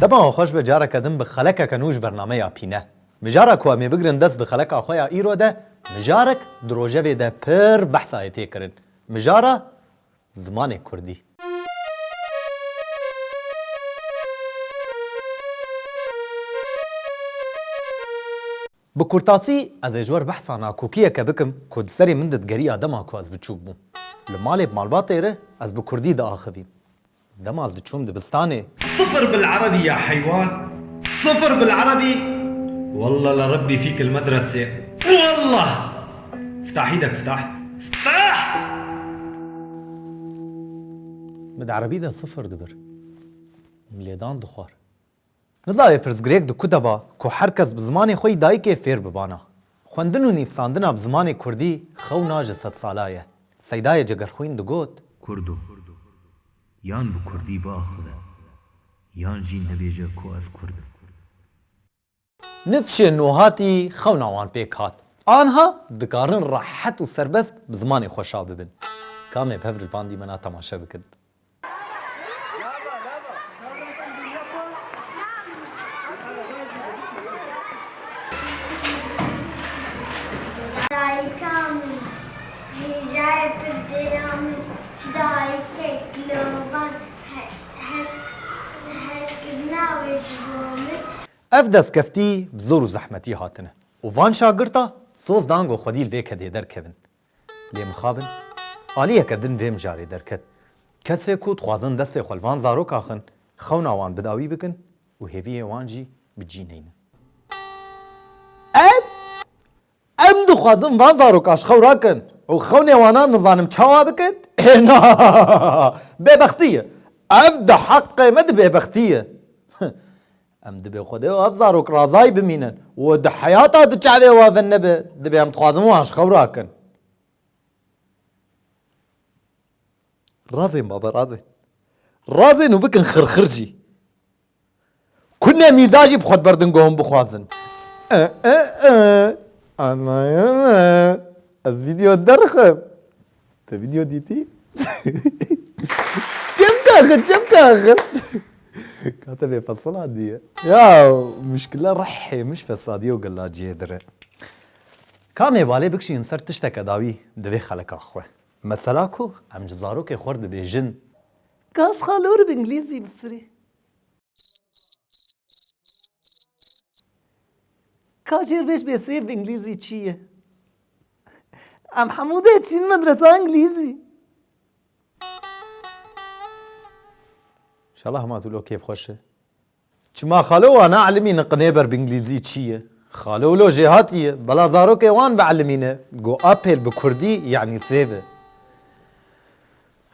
Dema wan xweş be careke din bi xelekeke nû ji bernameya pîne. Mijara ku em ê bigirin dest di xeleka xwe ya îro de, mijarek di rojevê de pir behsa ye tê kirin. Mijara zimanê kurdî. Bi kurtasî ez ê ji wer behsa nakokiyeke bikim ku di serê min de digeriya dema ku ez biçûk bûm. Li malê bi malbatê re ez bi kurdî diaxivîm. Dema ez diçûm dibistanê. Sifir bil erebî ya heywan sifir bil erebî welleh li rebbî fîk il medresê welleh. Ftahî de biftah. Ftah! Min di erebî de sifir dibir. Min lêdan dixwar. Nidayê pirsgirêk di ku de ba ku her kes bi zimanê xwe yî dayikê fêr bibana. Xwendin û nivîsandina bi zimanê kurdî xewna ji sedsala ye. Seydayê Cegerxwîn digot. Kurdo, yan bi kurdî biaxive, yan jî nebêje ku ez kurd im. Nifşê nuhatî xewna wan pêk hat. Anha dikarin rehet û serbest bi zimanê xwe şa bibin. Kamê pevrilvandî mena temaşe bikin. Ev destkeftî bi zor û zehmetî hatine û van şagirta soz dan ku xwedî li vê kedê derkevin. Lê mixabin aliyeke din vê mijarê derket. Kesê ku dixwazin destê xwe li van zarok axin, xewna wan bidawî bikin û hêviyê wan jî bi cî neynin. Ev Em dixwazin van zarok aşxewra kin û xewnê wanan nizanim çawa bikin? Êna! Bêbextî ye. Ev di heqê me di bêbextî ye. Em dibê Xwedê û ev zarok razayî bimînin û di heyata di çavê we ve nebe, dibê em dixwazin wan aşxewra kin. Razên baba razên. Razên û bikin xirxir jî. Ku ne mîza jî bi xwe diber dingo hûn bixwazin. E, e, e. Anayene. Ez vîdeo derxim. Te vîdeo dîtî? Çem kaxin, çem kaxin. Kate bê fesila diye. Ya muşkila rehê min ji fesadiye û gelaciyê dir e. Ka mêbalê bikişînin ser tişteke dawî di vê xelika xwe. Mesela ku em ji zarokê xwe re dibêjin. Kaş xalor bi îngilîzî bisirî. Ka jêrbêj bê sêv bi îngilîzî çi ye? Em hemû dê çîn medresa îngilîzî. Şala hema tu lo kêfxweş e. Çima xalo wan a elimî niqinê ber bi îngilîzî çî ye? Xalo lo jêhatî ye, bela zarokê wan bi elimî ne, go apêl bi kurdî yanî sêv e.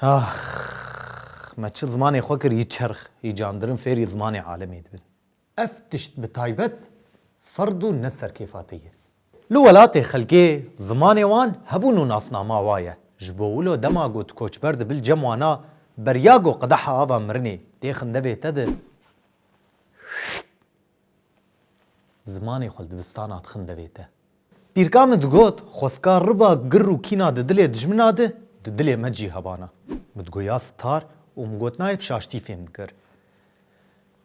Ax! Me çi zimanê xwe kir yî çerx, yî candirin fêrî zimanê alemê dibin. Ev tişt bi taybet ferd û ne serkêfa te ye. Li welatê xelkê zimanê wan hebûn û nasnama wa ye. Ji bo wilo dema got koçber di bil cem wan a berya got qedeha ava mirinê tê xindevê te di zimanê xwe li dibistana dixindevê te. Pîrka min digot xweska riba gir û kîna di dilê dijmina di di dilê me cî hebana. Min digot ya sitar û min got nayê bi şaştî fêm dikir.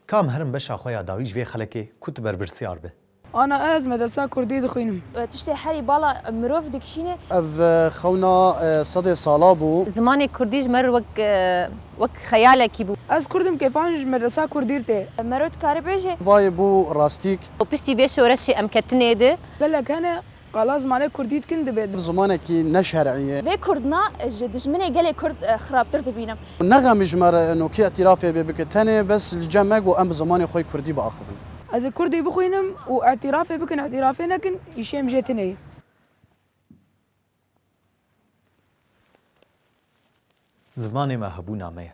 Kam herim beşa xwe ya dawî ji vê xelekê ku tu berpirsyar bi. Ana ez medresa kurdî dixwînim. Tiştê herî bala mirov dikişîne. Ev xewna sedê sala bû. Zimanê kurdî ji me re wek wek xeyalekî bû. Ez kurd im kêfan ji medresa kurdî re tê. Mero dikare bêje. Vayê bû rastîk. Piştî vê şoreşê em ketinê di. Gelek hene Qala zimanê kurdî dikin dibê. Zimanekî ne şer'î ye. Vê kurdna ji dijminê gelê kurd xirabtir dibînim. Nexemî ji me re eno kê îtîrafê bê bike tenê bes li cem me ku em bi zimanê xwe yê kurdî biaxivin. Ez ê kurdî bixwînim û îtîrafê bikin îtîrafê nekin îşê min jê tune ye. Zimanê me hebûna me ye.